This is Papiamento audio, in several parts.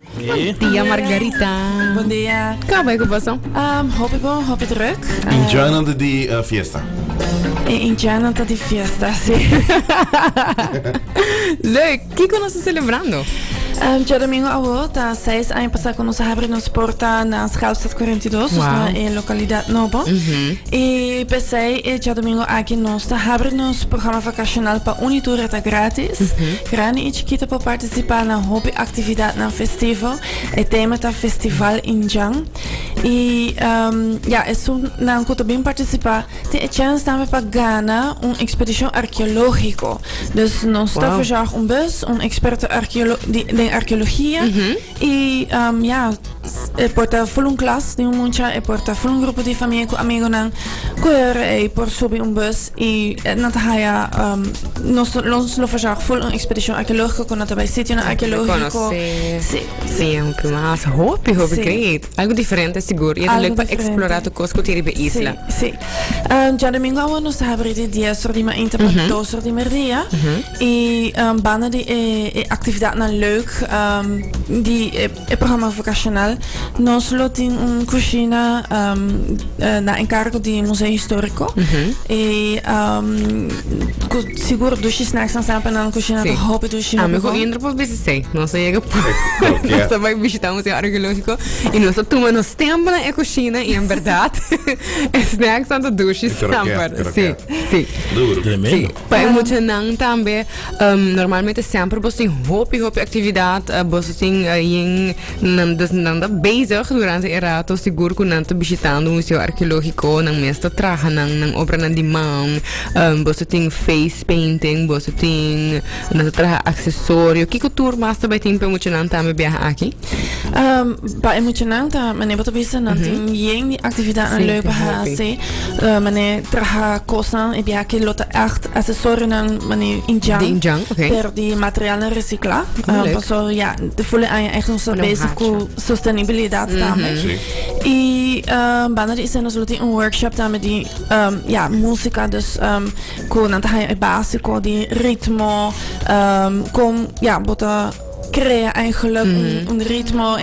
Bon dia Margarita. Bon dia. Ka bai ku boso? Um, hopi bon, hopi druk. Indianan ta di uh, fiesta. E Indianan ta di fiesta, si. Leuk. Kiko nos celebrando? Um, Dia domingo awo ta 6 aña pasa ku nos habri nos porta na Schoolstraat 42, wow. na e lokalidad nobo. Mm -hmm. E pesei e dia domingo aki nos ta habri nos programa vacacional pa unitura ta gratis. Mm -hmm. Grande e chiquita pa participa na hopi actividad nan festivo. E tema ta Festival Injan. Y um, ya, esun nan cu ta bin participa, tin e chance tambe pa gana un expedición arqueológico. Dus nos ta Wow. verzorg un bus, un experto arqueolo di, den arqueologia. Y um, ya, s- e por ta full un klas di un mucha, e por ta full un grupo di famia cu amigonan, cu e horen ei por subi un bus I e nan ta haya, um, nos, nos lo fashar full un expedicion archeologico cu nan ta bay sitionan Antes de archeologico. conocer. Sí, sí. Bien, que más. Hopi, hopi Sí. great. Algo diferente, seguro. Y Algo algo para diferente. explorar tu cosco tiri be isla. Sí, sí. Um, ja domingo awor nos ta habri di 10 ora di mainta pa 2 ora di merdia. I um, banda di e, e actividadnan leuk, um, di e, E programa vokashonal nos lo tin un kushina na enkargo di Museo Historiko i ku sigur dushi snaksnan sa pa nan kushina ta hopi dushi hopi bon. Ami ku Indra por bisa esei. Nos a yega por nos a bai bishitá Museo Arkeológiko i nos a tuma nos tempu na e kushina i en bèrdat e snaksnan ta dushi snamper. Duru. Pa e muchanan tambe, um, normalmente semper bos tin hopi, hopi actividad, uh, bos tin uh, yin, nan, dus nan da bezig durante e rato, sigur ku nan ta bishitando un museo arqueológico, nan mes ta traha nan, nan obra nan di man, um, bos tin face painting, bos tin, nan ta traha accesorio, kiko tur mas ta bai tin pa e muchanan tambe biaha aki? Um, pa e muchanan ta mané bota bisa nan mm -hmm. tin yen di actividad sí, leuk pa hase uh, mané traha kosan e bia ke lota acht asesor nan mané injang di injang okay. per di material na recicla um, ah, paso ja de volle aan echt ons bezig ku sostenibilidad mm -hmm. tamen sí. i um, banda di isen ons loti un workshop tamen di um, ja música dus um, ku nan ta e básico di ritmo um, kom ja bota crea eigenlijk un, un ritmo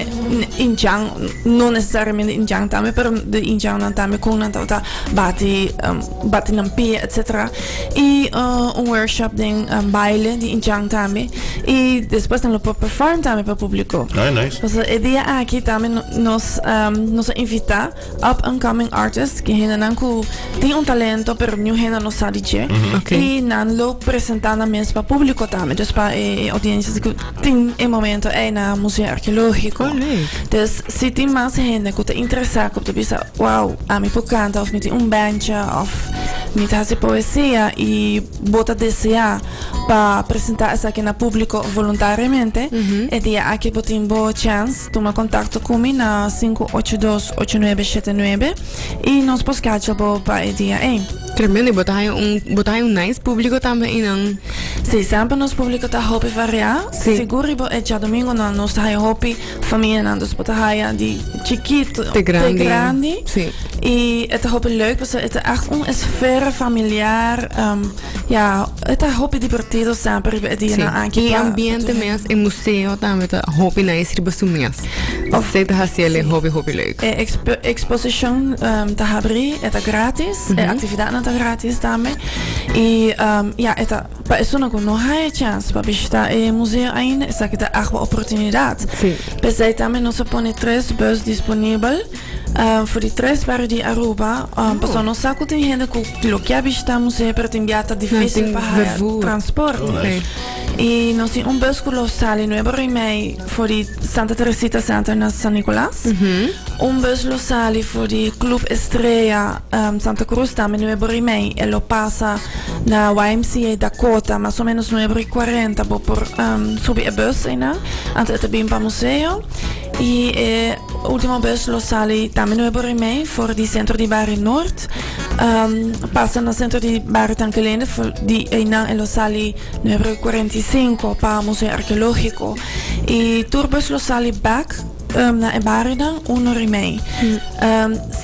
inchang, no necesariamente inchang tambe, pero de inchang nan tambe con nan tawata bati, um, bati nan pie, etc. Y uh, un workshop den um, baile di inchang tambe. Y después nan lo por perform tambe pa publico. Ah, nice. Entonces, e día aquí tambe no- nos, um, nos a invita up and coming artist ke hendenan ku tin un talento pero niun hende no sa di dje i nan lo presentá nan mes pa públiko tambe dus pa e audiencias ku tin e momento ei na Museo Arkeológiko dus si tin mas hende ku ta interesá ku ta bisa wow ami por kanta òf mi tin un bandje òf mi ta hasi poesia i bo ta deseá pa presentá esaki na públiko voluntariamente e dia aki bo tin bo chèns. Tuma contacto cu mi na sinku ocho dos ocho nuebe shete nuebe y nos por scacha bo pa e dia ey. Tremendo, y bo ta haya un, bo ta haya un nice publico tambe y nan. Si, semper nos publico ta hopi varia. Si. Sigur riba e djadomingonan nos ta haya hopi famianan, dus bo ta haya di chikito Te grandi. te grandi. Si. Y e ta hopi leuk, pasobra e ta echt un esfera familiar. Ya, e ta hopi divertido semper riba e dianan sí. aki. E ambiente mes, e museo también ta hopi nice riba su mes. Of se ta haciele sí. hopi hopi leuk. E expo exposition um, ehm, ta habri, e ta gratis, mm -hmm. e mhm. actividadnan ta gratis también. Y um, ehm, ya, e ta, pa esuna ku no haya chance pa bishita e museo ainda, esaki ta agua oportunidad. Sí. Pesai también no se pone tres bus disponible. Ah, for di tres bario di Aruba, ah, paso nos sa cu tin hende cu lo kia bishita musee, pero tin bia ta dificil pa haya vervoer. transporte. Oh, nice. Y nos tin un bus cu lo sali Nuevo Remey for di Santa Teresita Center na San Nicolas. Un bus lo sali for di Club Estrella, ehm, Santa Cruz tambe Nuevo Remey. E lo pasa na YMCA Dakota, mas o menos nuebra y cuarenta bo por, ehm, subi e bus eynan, antes e ta bin pa museo. I e ultimo bes lo sali tambe nuebo rimei for di sentro di Barie Nort. Pasa na sentro di Barie Tankelende for di einan e lo sali nuebro i kuarenta i sinku pa Museo Arkeologiko. I tur bes lo sali bek na e barionan uno rimei.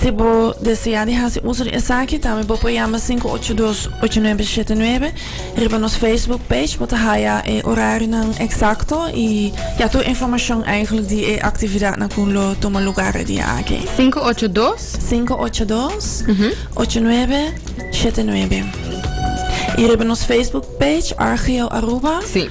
Si bo desea di hasi uso di esaki tambe bo por yama sinku ocho dos ocho nuebe shete nuebe. Riba nos Facebook page bo ta haya e orarionan eksakto i ya tur informashon eigenlijk di e aktividatnan ku lo tuma lugar e dia aki. 582. 582 8979 I riba nos Facebook page RGO Aruba. Sí.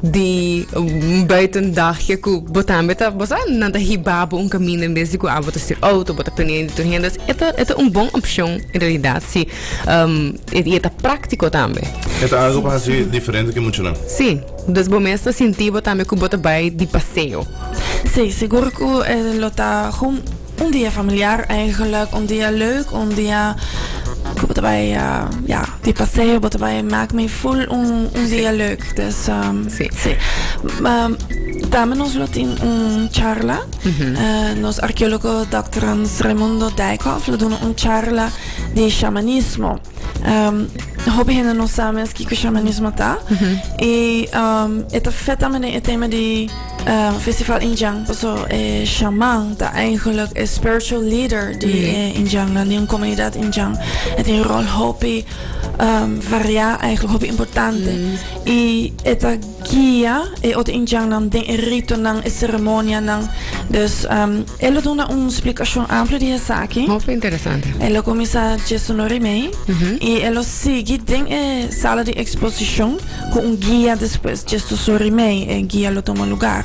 di un buiten dagje ku bo tambe ta bo sa nan ta hiba bo un kaminda en bes di ku abo ta stuur outo bo ta pendiente di tur hende e ta e ta un bon opshon en realidat si i e ta praktiko tambe. E ta algu pa hasi diferente ke muchunan. Si, dus bo mes ta sinti bo tambe ku bo ta bai di paseo. Si, sigur ku e lo ta. Un dia familiar eigenlijk, un dia leuk, un dia ku bo ta bai ya di paseo, bo ta bai mak mi ful un dia leuk. Dus si. Tambe nos lo tin un charla, nos arkeologo dòkter Hans Raimundo Dijkhof lo duna un charla di shamanismo. Um, hopi hende no sabe mes kiko shamanismo ta. E um, e ta feta mene e tema di uh, festival Injang. Paso e shaman ta eigenlijk e spiritual leader di mm. e Injang, dan di un comunidad Injang. E tem rol hopi um, variá, eigenlijk hopi importante. Mm. E, e ta guia e otro indiannan den e ritonan, e ceremonianan. Dus, e lo duna un splicacion amplo di esaki. Hopi interesante. E lo cuminsa dje su nori mei y e lo sigui den e sala di exposicion cu un guia despues dje su sori mei e guia lo tuma lugar.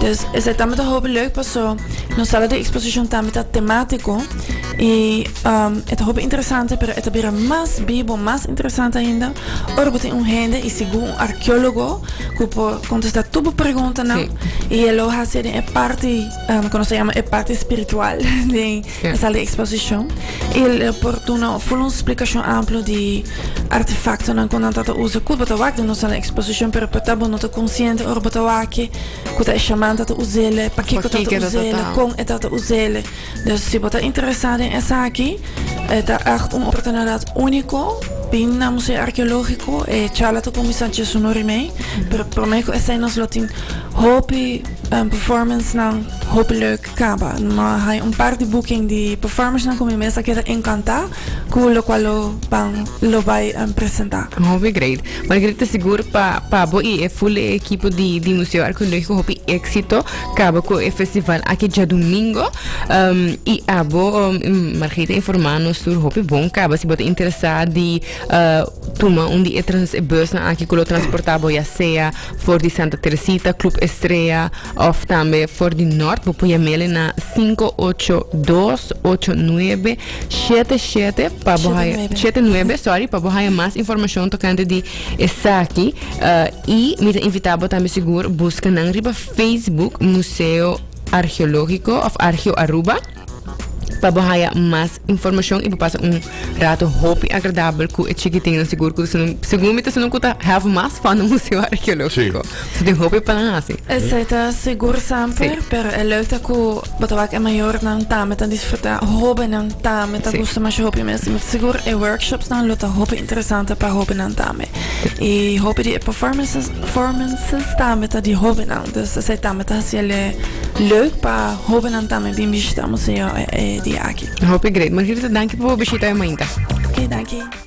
Dus, esey tambe ta hopi leuk paso nos sala di exposicion tambe ta tematico y e ta hopi interesante pero e ta bira mas bibo, mas interesante ainda. Ora bo tin un hende y sigur un arqueologo cu por contesta tur bo preguntanan y e lo haci den e parti cu nos ta yama e parti spiritual den e sal di exposicion y el lo por duna full un splicacion amplu di artefactonan cu nan ta ta usa cu bo ta wak den nos sal di exposicion pero por ta bo no ta consciente ora bo ta wak cu ta e shaman ta ta usa el'e pakico ta ta usa el'e con e ta ta usa el'e. Dus si bo ta interesá den esaki, e ta ègt un oportunidat úniko. Bin na Museo Arkeológiko e charla ta kuminsá djes unu ora i mei. Pero promé ku esei nos lo tin hopi performancenan, hopi lèk kaba. Mi a haña un par di booking di performancenan ku mi mes a keda enkantá ku lokual lo ban lo bai presentá. Hopi great. Margaritha, sigur pa bo i e full e ekipo di Museo Arkeológiko hopi éksito. Kaba ku e festival aki djadumingu um, i abo um, Margita informá nos tur hopi bon kaba si bo ta interesá di uh, tuma un di e, trans, e busnan aki ku lo transportá bo ya sea for di Santa Teresita, Club Estrella of tambe for di Nort bo por yamele na 5828977 pa bo haya 79 sorry pa bo haya mas informashon tokante di esaki uh, i mi ta invitá bo tambe sigur buska nan riba Facebook Museo Arheológiko of Arheo Aruba pa bo haya mas informashon i bo pasa un rato hopi agradabel ku e chikitinnan sigur ku ta segun mi ta sinan ku ta have mas fun na Museo Arheológiko si tin hopi pa nan hasi Esei ta sigur semper pero e leuk ta ku bo ta wak e mayornan tambe ta disfruta hóbennan tambe ta gusta masha hopi mes i mi ta sigur e workshopsnan lo ta hopi interesante pa hóbennan tambe i hopi di e performances Performances tambe ta di hobennan. Dus esei tambe ta hasi el e leuk pa hobennan tambe bin bishita museo e dia aki. Hopi great. Margarita, danki pa bo bishita e mainta. Oké, danki.